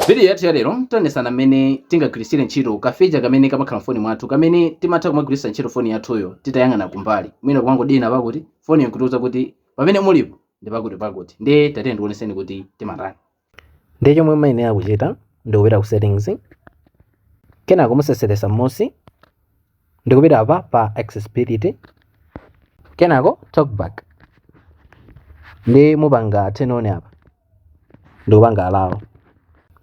Vidiyo yathu yalero tionetsana mmene tingagwiritsire ntchito kaficha kamene kamakhala m'foni mwathu kamene timatha kumagwiritsa ntchito foni yathuyo titayang'ana kumbali, mwina kumangodina penapake, foniyo n'kutiuza kuti pamene mulipo ndi pakutipakuti. Ndiye tatiyeni ndikuonetseni kuti timatani. Ndiye chomwe muyenera kuchita ndi kupita ku Settings, kenako museseresa m'munsi ndikupita apa pa accessibility kenako talkback ndiye mupanga turn on apa ndikupanga allow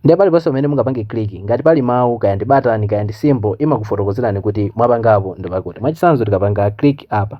ndiye paliponse pamene mungapange click ngati pali mawu kaya ndi batani kaya ndi symbol imakufotokozerani kuti pamene mwapangapo ndipakuti mwachitsanzo tikapanga click apa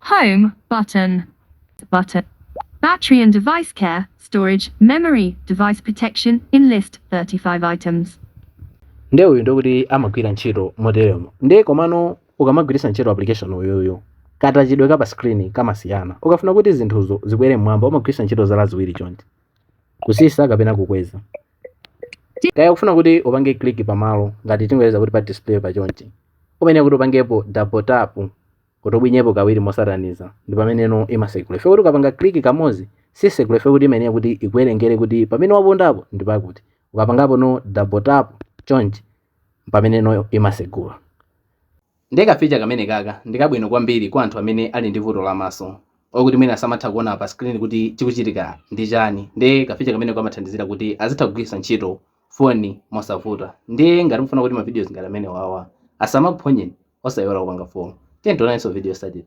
Home button. Button. Battery and device care, storage, memory, device protection in list 35 items. nde uyu ndikuti amagwira ntchito moteremo nde komano ukamagwiritsa ntchito application uyuyu katachidwe ka pa screen kamasiyana ukafuna kuti zinthuzo zikwere mmwamba umagwiritsa ntchito zala ziwiri chonchi kusisa kapena kukweza kaya ukufuna kuti upange click pamalo ngati tingoyeza kuti pa display pa chonchi uyenera kuti upangepo double tap kuti ubwinyepo kawiri mosatanizana ndi pameneno imasegula ife kuti ukapanga click kamozi sisegula ife kuti imayenera kuti ikuwerengere kuti pamene wapondapo ndi pakuti ukapangapo double tap chonchi pameneno imasegula ndiye kaficha kamene kaka ndikabwino kwambiri kwa anthu amene ali ndi vuto la maso okuti mwina samatha kuona pa screen kuti chikuchitika ndi chani ndiye kaficha kamene kamathandizira kuti azitha kugwiritsa ntchito phone mosavuta ndiye ngati mufuna kuti ma videos ngati amenewawa asamakuphonyeni osaiwala kupanga follow tiyeni tionanenso mu video yotsatira.